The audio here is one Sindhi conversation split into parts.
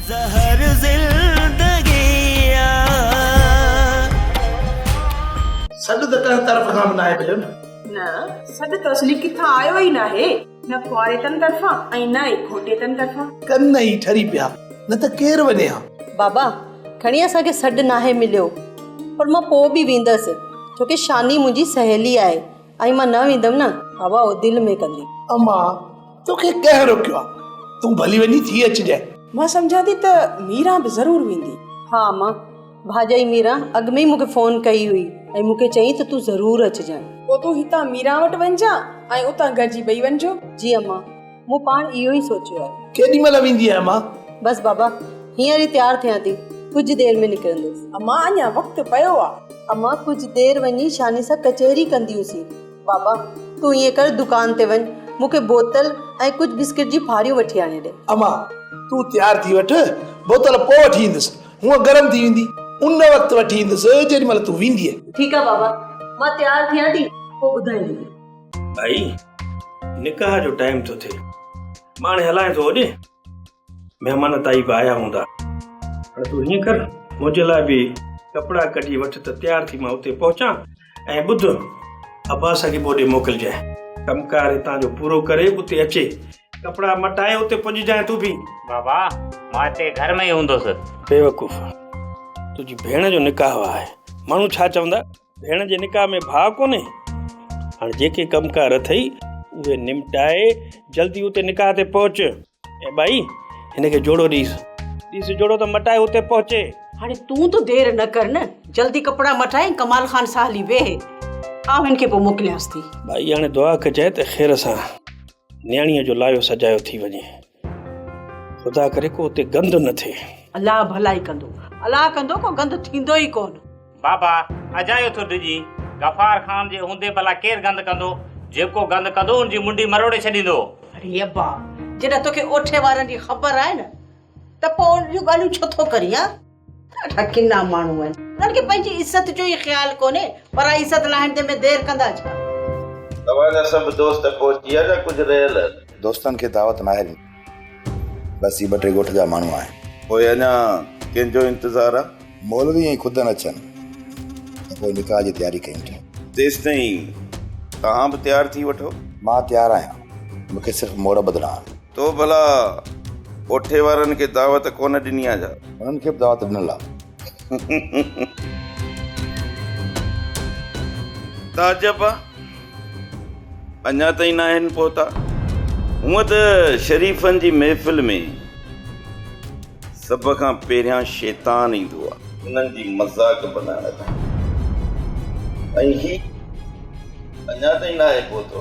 زهر زندگي آ. سڏ ته ڪنهن طرف کان به ناهي مليو نه. نه سڏ ته اصلي ڪٿان آيو ئي ناهي. نه ڪنواريتن طرفان ۽ نه ئي گهوٽيتن طرفان. ڪن ئي ٺري پيا نه ته ڪير وڃي ها. بابا کڻي اسان کي سڏ ناهي مليو پر مان پوء به ويندس ڇو ڪي شاني منهنجي سهيلي آهي ۽ مان نه ويندم نه هوا او دل ۾ ڪندي. اما توکي ڪنهن روڪيو آ تون ڀلي وڃي ٿي اچجانء. مان سمجهان ٿي ته ميران به ضرور ويندي. ها اما ڀاڄائي ميران اڳ ۾ ئي مونکي فون ڪئي هئي ۽ مونکي چيائين ته تون ضرور اچجانء. پوء تون هتان ميران وٽ وڃجانء ۽ اتان گڏجي ٻئي وڃجون. جي اما. مون پاڻ اهو ئي سوچيو آهي. ڪيڏي مهل ويندينء اما؟ بس بابا، هينئر ئي تيار ٿيان ٿي، ڪجهه دير ۾ نڪرندس. اما، اڃا وقت پيو آهي. اما، ڪجهه دير وڃي شاني سان ڪچهري ڪنديون سين. بابا، تون ائين ڪر دڪان تي وڃ، مون کي بوتل ۽ ڪجهه بسڪٽ جي ڦاريون وٺي آڻي ڏي. اما، تون تيار ٿي وٺ، بوتل پوء وٺي ايندس، هونء گرم ٿي ويندي، ان وقت وٺي ايندس، جيڏي مهل تون ويندينء. ٺيڪ آهي بابا، مان تيار ٿيان ٿي، پوء ٻڌائيندينء. ڀائي نڪاح جو ٽائيم ٿو ٿئي مان هاڻي هلان ٿو هوڏي مهمان تائي به آيا هوندا هاڻي تون هيئن ڪر منهنجي لاء به ڪپڙا ڪڍي وٺ ته تيار ٿي مان اتي پهچان ۽ ٻڌ عباس صاحب به هوڏي موڪلجانء ڪمڪار هتان جو پورو ڪري اتي اچي ڪپڙا مٽائي اتي پڄجانء تون به بابا مان هتي گهر ۾ ئي هوندس. بيوقوف تنهنجي ڀيڻ جو نڪاح آهي ماڻهو ڇا چوندا ڀيڻ جي نڪاح ۾ ڀاء ڪونهي هاڻ جيڪي ڪم ڪار اٿئي اهي نمٽائي جلدي اتي نڪاح تي پهچ اي ٻائي هن کي جوڙو ڏيس ڏيس جوڙو ته مٽائي اتي پهچي هاڻي تون ته دير نه ڪر نه جلدي ڪپڙا مٽائي ڪمال خان سان هلي ويهه آئون هن کي پوء موڪليانس ٿي. ٻائي هاڻي دعا ڪجانء ته خير سان نياڻيء جو لايو سجايو ٿي وڃي. خدا ڪري ڪو اتي گند نه ٿئي. الله ڀلائي ڪندو. الله ڪندو ڪو گند ٿيندو ئي ڪونه. بابا اجايو ٿو ڊڄي. غفار خان جي هوندي ڀلا ڪير گند ڪندو. جيڪو گند ڪندو ان جي منڊي مروڙي ڇڏيندو. اڙي ابا جڏهن توکي اوٺي وارن جي خبر آهي نه ته پوء اهڙيون ڳالهيون ڇو ٿو ڪرين ها. اھا ڪنا ماڻھو آھن. انھن کي پنھنجي عزت جو ئي خيال ڪونھي. پرائي عزت لاھڻ ۾ دير ڪندا ڇا؟ توھان جا سڀ دوست پھچي ويا ھن ڪجھ رھيل ھن. دوستن کي دعوت ناھي ڏني. بس ھي ٻه ٽي ڳوٺ جا ماڻھو آھن. پوء اڃا ڪنھن جو انتظار آ؟ مولوي ۽ خود نه اچن ته پوء نڪاح جي تياري ڪيون ٿا. تيستائين توھان به تيار ٿي وٺو. مان تيار آھيان مون کي صرف موڙ ٻڌڻا آھن. تو ڀلا ڪوٺي وارن کي دعوت ڪونه ڏني آ ڇا؟ انهن کي به دعوت ڏنل آ. تعجب آ اڃا تائين ناهن پهتا. هونء ته شريفن جي محفل ۾ سڀ کان پهريان شيطان ايندو آ. انهن جي مذاق بنائڻ لاء. ۽ هي اڃا تائين ناهي پهتو.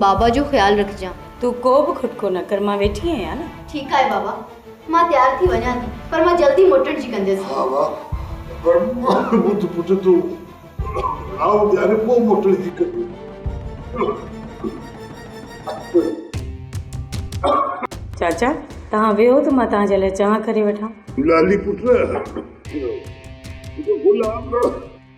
بابا جو خيال رکجان. تون ڪو به کٽڪو نه ڪر مان ويٺي آهيان نه. ٺيڪ آهي بابا مان تيار ٿي وڃان ٿي پر مان جلدي موٽڻ جي ڪنديس. ها ها پر ٻڌ پٽ تون راهو ڏياري پوء موٽڻ جي ڪندين. چاچا توهان ويهو ته مان توهان جي لاء چانهه ڪري وٺان. لالي پٽ گلاب.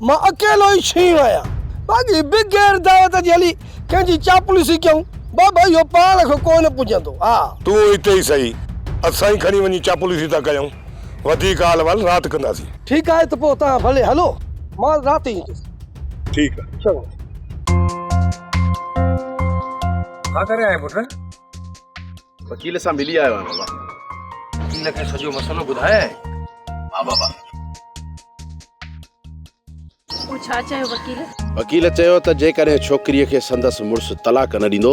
مان اڪيلو ئي شينهن آهيان، باقي بغير دعوت جي هلي ڪنهن جي چاپلوسي ڪيون، بابا اهو پاڻ کان ڪو نه پڄندو. ها! تون هتي ئي سهي، اسان ئي کڻي وڃي چاپلوسي ٿا ڪيون، وڌيڪ حال احوال رات ڪنداسين. ٺيڪ آهي ته پوء توهان ڀلي هلو، مان رات ئي ايندس. ٺيڪ آهي. چڱو. ڇا ڪري آهين پٽ؟ وڪيل سان ملي آيو آهيان بابا وڪيل کي سڄو مسئلو ٻڌايائين ها بابا پوء ڇا چيو وڪيل وڪيل چيو ته جيڪڏهن ڇوڪريء کي سندس مڙس طلاق نه ڏيندو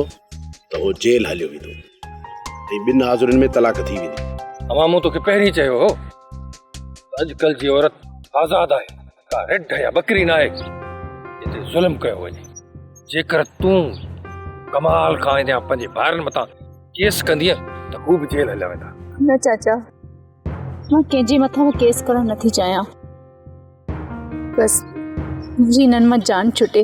ته هو جيل هليو ويندو ۽ ٻن حاضرين ۾ طلاق ٿي ويندي اما مون توکي پهرين چيو هو اڄڪلهه جي عورت آزاد آهي ڪا رڍ يا ٻڪري ناهي جتي ظلم ڪيو وڃي جيڪر تون ڪمال کان اينديا پنهنجي ڀائرن متان ڪيس ڪندينء ته هو به جيل هليا ويندا نه چاچا مان ڪنهن جي مٿان به ڪيس ڪرڻ نٿي چاهيان بس منهنجي هنن مان جان ڇٽي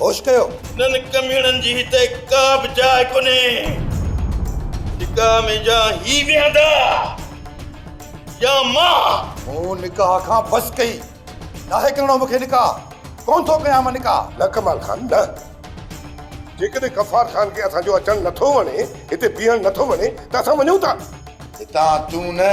هوش ڪيو. انهن ڪميڻن جي هتي ڪا به جاء ڪونهي. نڪاح ۾ جا هي ويهندا يا مان. مون نڪاح کان بس ڪئي. ناهي ڪرڻو مون کي نڪاح. ڪونه ٿو ڪيان مان نڪاح. نه ڪمال خان نه. جيڪڏهن غفار خان کي اسان جو اچڻ نه ٿو وڻي، هتي بيهڻ نه ٿو وڻي ته اسان وڃون ٿا. هتان تون نه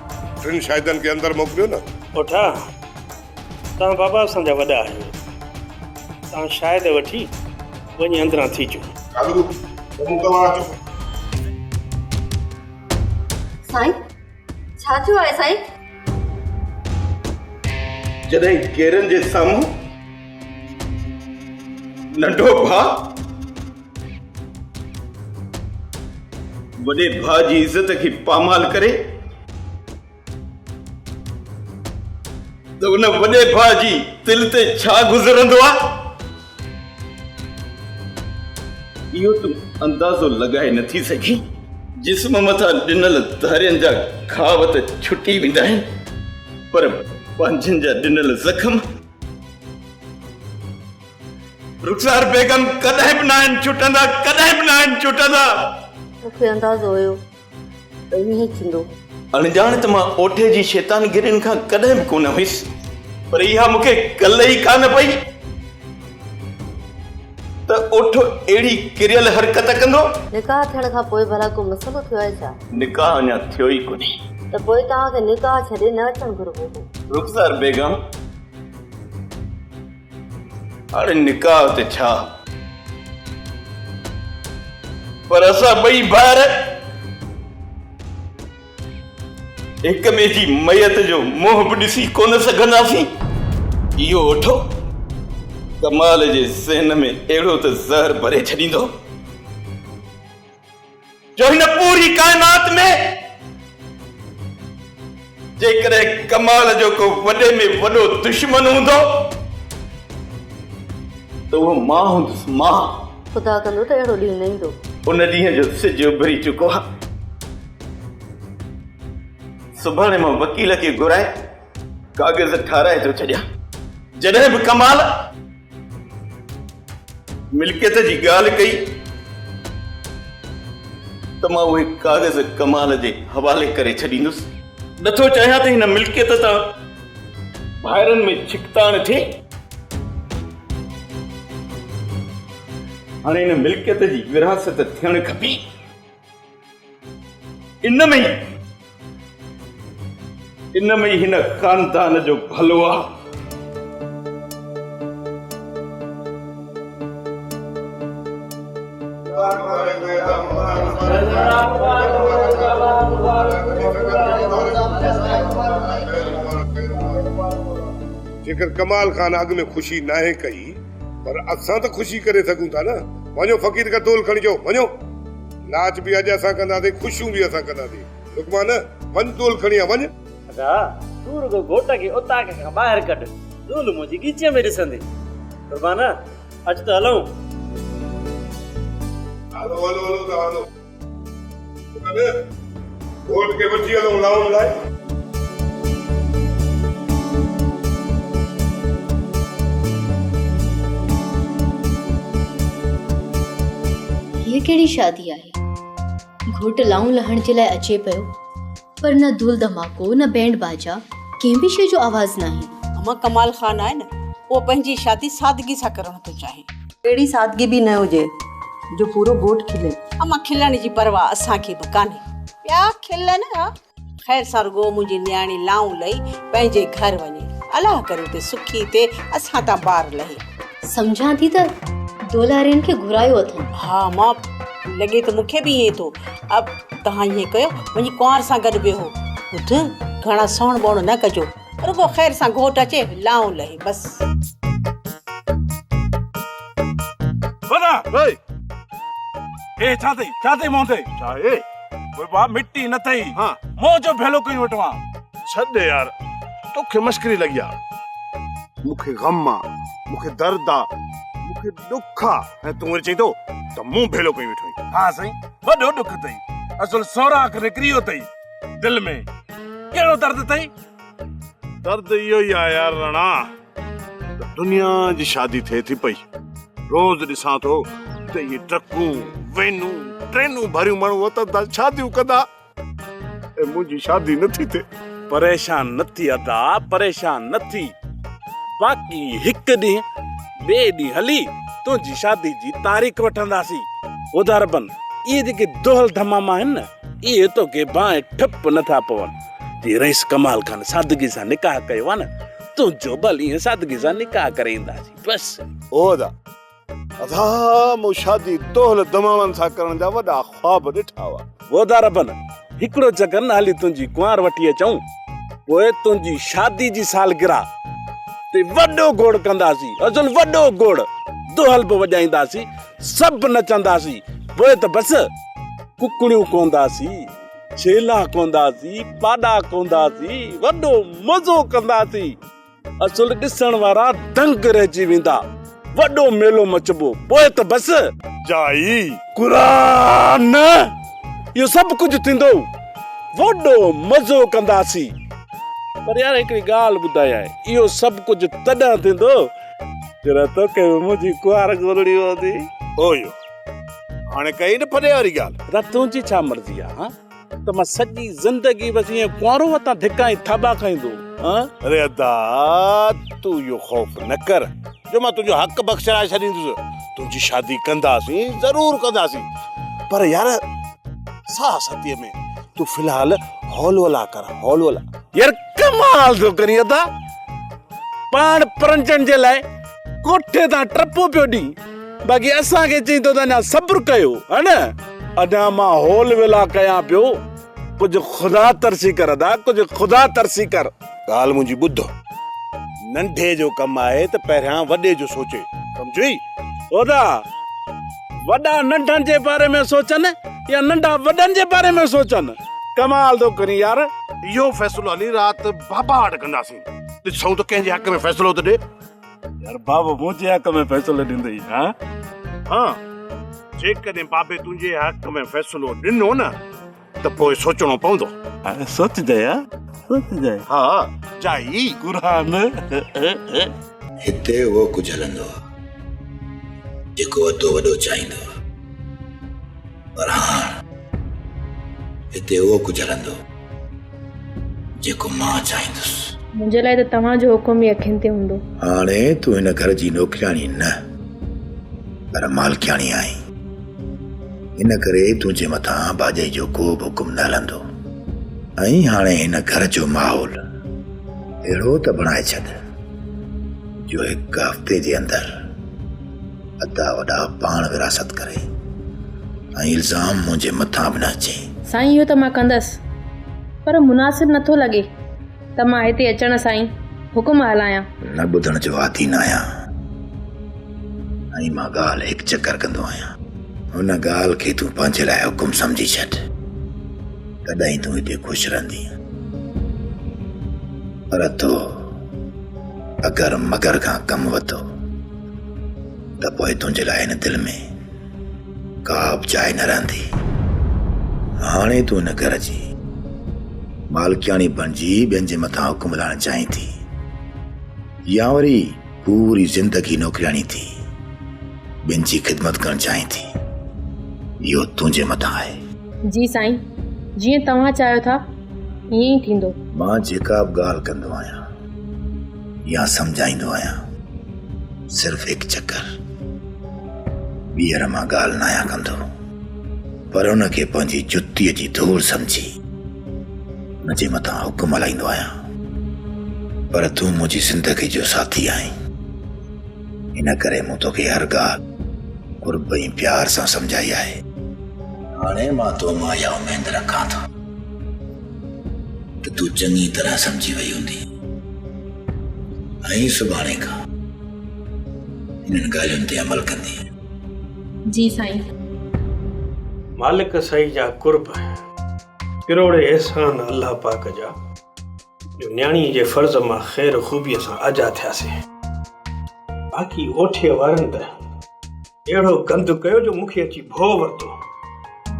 ٽن شاهدن کي اندر موڪليو نه. پوٺا، توهان بابا اسان جا وڏا آهيو، توهان شاهد وٺي وڃي اندران ٿي اچو. ڪالو، تمون توهان اچو. سائين، ڇا ٿيو آهي سائين؟ جڏهن گيرن جي سامهون ننڍو ڀاء. وڏي ڀاء جي عزت کي پامال ڪري ته ان وڏي ڀاء جي دل تي ڇا گذرندو آهي اهو تون اندازو لڳائي نٿي سگهين جسم مٿان ڏنل ڌارين جا گهاو ته ڇٽي ويندا آهن پر پنهنجن جا ڏنل زخم رخسار بيگم ڪڏهن به ناهن چٽندا ڪڏهن به ناهن چٽندا. مون کي اندازو هيو ته ائين ئي ٿيندو. اڻڄاڻ ته مان اوٺي جي شيطانگرين کان ڪڏهن به ڪونه هيس. پر اها مون کي ڪل ئي ڪانه پئي ته اوٺ اهڙي ڪريل حرڪت ڪندو. نڪاح ٿيڻ کان پوء ڀلا ڪو مسئلو ٿيو آهي ڇا؟ نڪاح اڃا ٿيو ئي ڪونهي. ته پوء توهان کي نڪاح ڇڏي نه اچڻ گهربو هو. رخسار بيگم. هاڻي نڪاح ته ڇا پر اسان ٻئي ڀائر هڪ ٻئي جي ميت جو منهن به ڏسي ڪونه سگهنداسين. اهو اٺو ڪمال جي ذهن ۾ اهڙو ته زهر ڀري ڇڏيندو. جو هن پوري ڪائنات ۾ جيڪڏهن ڪمال جو ڪو وڏي ۾ وڏو دشمن هوندو ته اهو مان هوندس، مان! خدا ڪندو ته اهڙو ڏينهن نه ايندو. ان ڏينهن جو سج اڀري چڪو آهي. سڀاڻي مان وڪيل کي گهرائي ڪاغذ ٺاهرائي ٿو ڇڏيان. جڏهن به ڪمال. ملڪيت جي ڳالهه ڪئي ته مان اهي ڪاغذ ڪمال جي حوالي ڪري ڇڏيندس. نٿو چاهيان ته هن ملڪيت تان ڀائرن ۾ ڇڪتاڻ ٿئي. هاڻي هن ملڪيت جي ورهاست ٿيڻ کپي. ان ۾ ئي ان ۾ ئي هن خاندان جو ڀلو آ. جيڪر ڪمال خان اڳ ۾ خوشي ناهي ڪئي. پر اسان ته خوشي ڪري سگهون ٿا نه. وڃو فقير کان دول کڻي چئو، وڃو. ناچ به اڄ اسان ڪنداسين، خوشيون به اسان ڪنداسين. لقمان، وڃ دول کڻي آ، وڃ. ادا، تون رڳو گهوٽ کي اوطاق کان ٻاهر ڪڍ، دول منهنجي ڳيچيء ۾ ڏسندي. قربان، اچ ته هلون. هلو هلو هلو ته هلو. گهوٽ کي وٺي هلئون لائون لاء. هيء ڪهڙي شادي آهي. گهوٽ لائون لهڻ جي لاء اچي پيو. پر نه ڌول ڌماڪو نه بينڊ باجا ڪنهن به شيء جو آواز ناهي. امان ڪمال خان آهي نه اهو پنهنجي شادي سادگي سان ڪرڻ ٿو چاهي. اهڙي سادگي به نه هجي جو پورو گهوٽ کلي. امان کلڻ جي پرواهه اسان کي به ڪانهي. ٻيا کلن ها خير سان رڳو منهنجي نياڻي لائون لهي پنهنجي گهر وڃي. الله ڪري ته سکي ٿي اسان تان بار لهي. سمجهان ٿي ته دولارين کي گهرايو اٿن. ها امان لڳي ته مون کي به ائين ٿو. اب توهان ائين ڪيو وڃي ڪنوار سان گڏ ويهو. ٻڌ گهڻا سوڻ ٻوڻ نه ڪجو. رڳو خير سان گهوٽ اچي لائون لهي بس. ودا وئي هي ڇا ٿئي ڇا ٿئي مون تي. ڇا هي وبا مٽي نه ٿئي مون جو ڀيلو ڪيون وٽ مان. ڇڏ يار توکي مشڪري لڳي آ. مونکي غم آ مونکي درد آ مونکي. ڏک آ ۽ تون وري چئين ٿو ته مون ڀيلو ڪيو ويٺو آهين. ها سائين وڏو ڏک اٿئي اصل سوراخ نڪري ويو اٿئي دل ۾ ڪهڙو درد اٿئي؟ درد اهو ئي آهي يار رڻا ته دنيا جي شادي ٿئي ٿي پئي روز ڏسان ٿو ته اهي ٽرڪون وينون ٽرينون ڀريون ماڻهو وطن تان شاديون ڪندا. ۽ منهنجي شادي نه ٿي ٿئي. پريشان نه ٿي ادا، پريشان نه ٿي. باقي هڪ ڏينهن ٻئي ڏينهن هلي تنهنجي شادي جي تاريخ وٺنداسين. ادا ربن، اهي جيڪي دهل دمام آهن نه، اهي توکي بانهه ٺپ نه ٿا پون. جي رئيس ڪمال خان سادگي سان نڪاح ڪيو آهي نه، تنهنجو به هلي ائين سادگي سان نڪاح ڪري اينداسين. بس. او ادا، ادا مون شادي دهل دماڻن سان ڪرڻ جا وڏا خواب ڏٺا هئا. وعدا ربن هڪڙو چڪر نه هلي تنهنجي ڪنوار وٺي اچون پوء تنهنجي شادي جي سالگرهه تي وڏو گوڙ ڪنداسين ازل وڏو گوڙ دهل به وڄائينداسين سڀ نچنداسين پوء ته بس ڪڪڙيون ڪونداسين ڇيلا ڪونداسين پاڏا ڪونداسين وڏو مزو ڪنداسين. اصل ڏسڻ وارا دنگ رهجي ويندا وڏو ميلو مچبو پوء ته بس جائي قرآن اهو سڀ ڪجهه ٿيندو وڏو مزو ڪنداسين پر يار هڪڙي ڳالهه ٻڌايئي اهو سڀ ڪجهه تڏهن ٿيندو جڏهن توکي به منهنجي ڪوار گهرڻي هوندي اويو هاڻي ڪئي نه ڦڏي واري ڳالهه رت تنهنجي ڇا مرضي آهي ته مان سڄي زندگي بس ائين ڪنوارو وتان ڌڪا ۽ ٿاٻا کائيندو هان. اري ادا تون اهو خوف نه ڪر جو مان تنهنجو حق بخشرائي ڇڏيندس. تنهنجي شادي ڪنداسين ضرور ڪنداسين پر يار ساهه ستيء ۾ تون في الحال هولولا ڪر هولولا. يار ڪمال ٿو ڪرين ادا پاڻ پرنجڻ جي لاء ڪوٺي تان ٽپو پيو ڏئي باقي اسان کي چئي ٿو ته اڃا صبر ڪيو ها نه ادا مان هول ويلا ڪيان پيو ڪجهه خدا ترسي ڪر ادا ڪجهه خدا ترسي ڪر ڳالهه منهنجي ٻڌ ننڍي جو ڪم آهي ته پهريان وڏي جو سوچي سمجھي ادا وڏا ننڍن جي باري ۾ سوچن يا ننڍا وڏن جي باري ۾ سوچن ڪمال ٿو ڪري يار اهو فيصلو علي رات بابا وٽ ڪنداسين ڏسون ته ڪنهن جي حق ۾ فيصلو ٿو ڏي يار بابو منهنجي حق ۾ فيصلو ڏيندي ها ها جيڪڏهن بابي تنهنجي حق ۾ فيصلو ڏنو نه ته پوء سوچڻو پوندو سوچجي ها سوچجي ها جائي قرآن هتي اهو ڪجهه هلندو آهي جيڪو وڌو وڏو چاهيندو آهي پر هاڻ هتي اهو ڪجهه هلندو جيڪو مان چاهيندس. منهنجي لاء ته توهان جو حڪم ئي اکين تي هوندو. هاڻي تون هن گهر جي نوڪرياڻي نه پر مالڪياڻي آهين. ان ڪري تنهنجي مٿان ڀاڄائي جو ڪو به حڪم نه هلندو. ۽ هاڻي هن گهر جو ماحول اهڙو ته بڻائي ڇڏ جو هڪ هفتي جي اندر ادا وڏا پاڻ وراثت ڪري ۽ الزام منهنجي مٿان به نه اچي. سائين اهو ته مان ڪندس پر مناسب نٿو لڳي ته مان هتي اچڻ سان ئي حڪم هلايان. نه ٻڌڻ جو عادي نه آهيان ۽ مان ڳالهه هڪ چڪر ڪندو آهيان. هن ڳالهه کي تون پنهنجي لاء حڪم سمجهي ڇڏ تڏهن ئي تون هتي خوش رهندين پر تو اگر مگر کان ڪم وتو. ته پوء تنهنجي لاء هن دل ۾ ڪا به جاء نه رهندي هاڻي تون هن گهر جي مالڪياڻي بڻجي ٻين جي مٿان حڪم هلائڻ چاهين ٿي يا وري پوري زندگي نوڪرياڻي ٿي ٻين جي خدمت ڪرڻ چاهين ٿي اهو تنهنجي مٿان آهي جي سائين جيئن توهان چاهيو ٿا ائين ئي ٿيندو مان جيڪا به ڳالهه ڪندو آهيان يا سمجهائيندو آهيان صرف هڪ چڪر ٻيهر مان ڳالهه نه آهيان ڪندو پر ان کي پنهنجي جتيء جي ڌوڙ سمجهي ان جي مٿان حڪم هلائيندو آهيان پر تون منهنجي زندگي جو ساٿي آهين ان ڪري مون توکي هر ڳالهه قرب ۽ پيار سان سمجهائي آهي هاڻي مان تو مان اها اميد رکان ٿو ته تون چڱي طرح سمجهي وئي هوندينء ۽ سڀاڻي کان انهن ڳالهين تي عمل ڪندينء. جي سائين. مالڪ سعي جا قرب ۽ ڪروڙين احسان الله پاڪ جا جو نياڻي جي فرض مان خير خوبيء سان آجا ٿياسين. باقي اوٺيء وارن ته. اهڙو گند ڪيو جو مون کي اچي ڀؤ ورتو.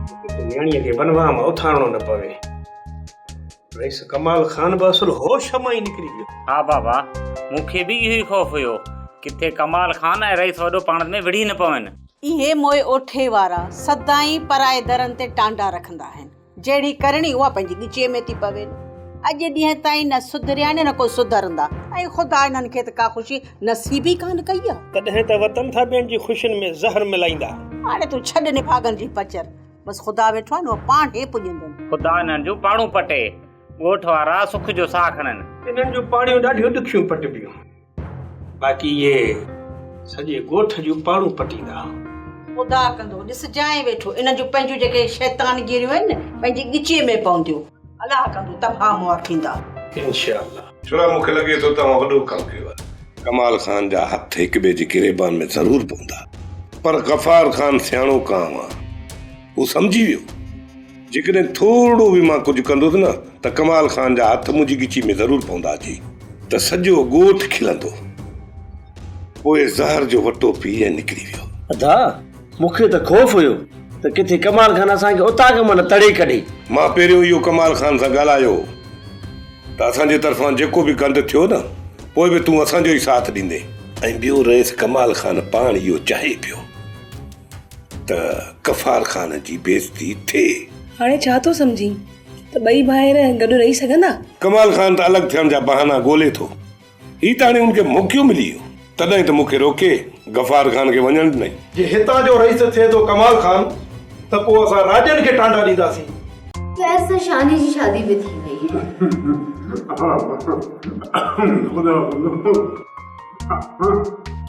ڪٿي ته نياڻيء کي بنواهه مان اٿارڻو نه پوي. رئيس ڪمال خان به اصل هوش مان ئي نڪري ويو. ها بابا، مون کي به اهو ئي خوف هيو. ڪٿي ڪمال خان ۽ رئيس وڏو پاڻ ۾ وڙهي نه پون. اهي موئي اوٺي وارا سدائين پرائي درن تي ٽانڊا رکندا آهن. جهڙي ڪرڻي اها پنهنجي ڳچيء ۾ ٿي پوين. اڄ ڏينهن تائين نه سڌريا آهن نه ڪو سڌرندا. اي خدا انهن کي ته ڪا خوشي نصيب ئي ڪانه ڪئي آ. تڏهن ته وطن ٿا ٻين جي خوشين ۾ زهر ملائيندا. هاڻي تون ڇڏ نڀاڳن جي پچر. بس خدا ويٺو آهن اهو پاڻ هي پڄندن. خدا انهن جون پاڙون پٽي. ڳوٺ وارا سک جو ساهه کڻن. انهن جون پاڙيون ڏاڍيون ڏکيون پٽبيون. باقي اهي سڄي ڳوٺ جون پاڙون پٽيندا. خدا ڪندو ڏسجانء ويٺو انهن جون پنهنجون جيڪي شيطانگيريون آهن نه پنهنجي ڳچيء ۾ پونديون. الله ڪندو تباهه مئا ٿيندا. انشاء الله. ڇوڙا مونکي لڳي ٿو توهان وڏو ڪم ڪيو آهي. ڪمال خان جا هٿ هڪٻئي جي گريبان ۾ ضرور پوندا پر غفار خان سياڻو ڪانء آهي. هو سمجهي ويو، جيڪڏهن ٿورڙو به مان ڪجهه ڪندس نه ته ڪمال خان جا هٿ منهنجي ڳچي ۾ ضرور پوندا جي ته سڄو ڳوٺ کلندو. پوء زهر جو وٽو پي ۽ نڪري ويو. ادا، مون کي ته خوف هيو ته ڪٿي ڪمال خان اسان کي اتان کان به نه تڙي ڪڍي. مان پهريون اهو ڪمال خان سان ڳالهايو هو ته اسان جي طرفان جيڪو به گند ٿيو نه پوء به تون اسان جو ئي ساٿ ڏيندين. ۽ ٻيو رئيس ڪمال خان پاڻ اهو چاهي پيو. ته غفار خان جي بيعزتي ٿئي. هاڻي ڇا ٿو سمجهين ته ٻئي ڀائر گڏ رهي سگهندا؟ ڪمال خان ته الڳ ٿيڻ جا بهانا ڳولي ٿو. هي ته هاڻي ان کي موقعو ملي ويو. تڏهن ته مون کي روڪي غفار خان کي وڃڻ ڏنائين. جي هتان جو رئيس ٿئي ٿو ڪمال خان ته پوء اسان راڄن کي ٽانڊا ڏينداسين. خير سان شاني جي شادي به ٿي وئي. خدا خدا.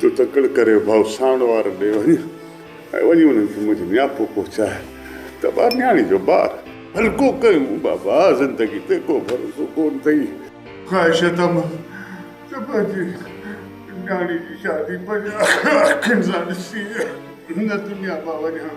تو تڪڙ ڪري ڀائو ساڻ وارن ڏي وڃ ۽ وڃي انهن کي منهنجو نياپو پهچاء ته ٻار نياڻي جو بار هلڪو ڪيون بابا زندگي تي ڪو ڀروسو ڪونه اٿئي. خواهش اٿم ته پنهنجي نياڻي جي شادي پنهنجي اکين سان ڏسي هن دنيا مان وڃان.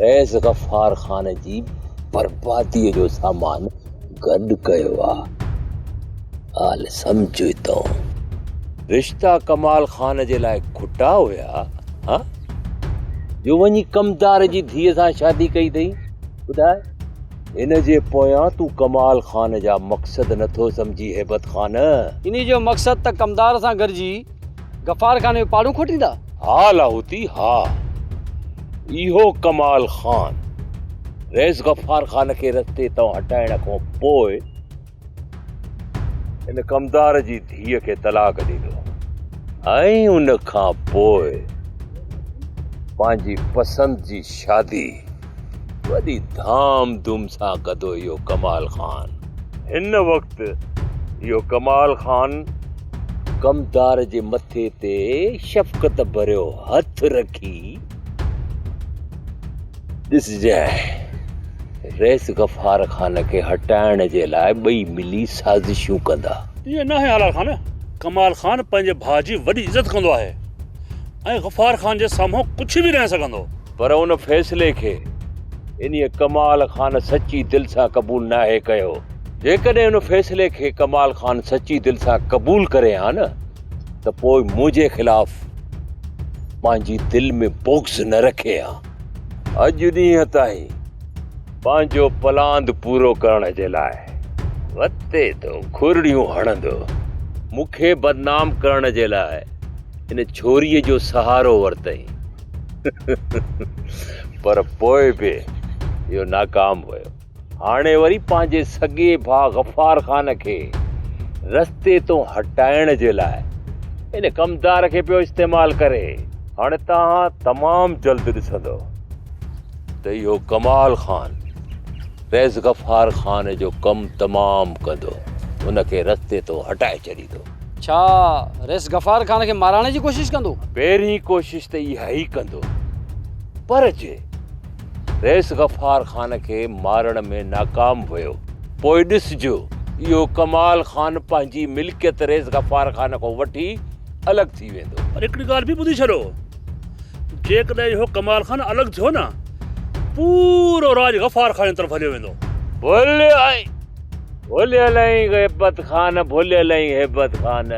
رئيس غفار خان جي برباديء جو سامان گڏ ڪيو آ. ڳالهه سمجهه تون. رشتا ڪمال خان جي لاء کٽا هيا ها؟ جو وڃي ڪمدار جي ڌيء سان شادي ڪئي اٿئي؟ ٻڌاء. ان جي پويان تون ڪمال خان جا مقصد نٿو سمجهين هيبت خان. انهيء جو مقصد ته ڪمدار سان گڏجي غفار خان جو پاڙون کوٽيندا؟ ها لاهوتي ها. اهو ڪمال خان رئيس غفار خان کي رستي تان هٽائڻ کان پوء ان ڪمدار جي ڌيء کي طلاق ڏنو ۽ ان کان پوء پنهنجي پسند جي شادي وڏي ڌام ڌوم سان ڪڌو اهو ڪمال خان. هن وقت اهو ڪمال خان ڪمدار جي مٿي تي شفقت ڀريو هٿ رکي ڏسجانء رئيس غفار خان کي هٽائڻ جي لاء ٻئي ملي سازشون ڪندا. ائين ناهي حلال خان، ڪمال خان پنهنجي ڀاء جي وڏي عزت ڪندو آهي ۽ غفار خان جي سامهون ڪجهه به ناهي سگهندو. پر ان فيصلي کي انهيء ڪمال خان سچي دل سان قبول ناهي ڪيو. جيڪڏهن ان فيصلي کي ڪمال خان سچي دل سان قبول ڪري ها نه ته پوء منهنجي خلاف پنهنجي دل ۾ بغض نه رکي ها. اڄ ڏينهن تائين پنهنجو پلاند پورو ڪرڻ جي لاء وتي ٿو کورڙيون هڻندو. مون کي بدنام ڪرڻ جي لاء ان ڇوريء جو سهارو ورتئي. پر پوء به اهو ناڪام ويو. هاڻي وري پنهنجي سڳي ڀاء غفار خان کي رستي تون هٽائڻ جي لاء ان ڪمدار کي پيو استعمال ڪري. هاڻي توهان تمام جلد ڏسندؤ ته اهو ڪمال خان فيض غفار خان جو ڪم تمام ڪندو، ان کي رستي تون هٽائي ڇڏيندو. ڇا رئيس غفار خان کي مارائڻ جي ڪوشش ڪندو؟ پهرين ڪوشش ته اها ئي ڪندو پر جي رئيس غفار خان کي مارڻ ۾ ناڪام ويو پوء ڏسجو اهو ڪمال خان پنهنجي ملڪيت رئيس غفار خان کان وٺي الڳ ٿي ويندو. پر هڪڙي ڳالهه به ٻڌي ڇڏو جيڪڏهن اهو ڪمال خان الڳ ٿيو نه پورو راڄ غفار خان جي طرف هليو ويندو. بولي آء ڀليل ۽ غيبت خان ڀليل ۽ هيبت خان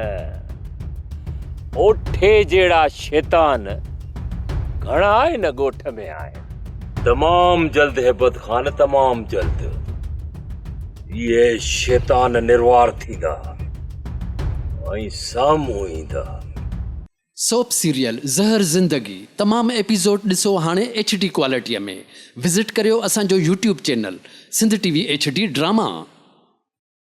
اوٺي جهڙا شيطان گهڻا هن ڳوٺ ۾ آهن. تمام جلد هيبت خان تمام جلد اهي شيطان نروار ٿيندا ۽ سامهون ايندا. سوپ سيريل زهر زندگي تمام ايپيسوڊ ڏسو هاڻي ايڇ ڊي ڪوالٽيء ۾ وزٽ ڪريو اسان جو YouTube channel Sindh T V H D drama.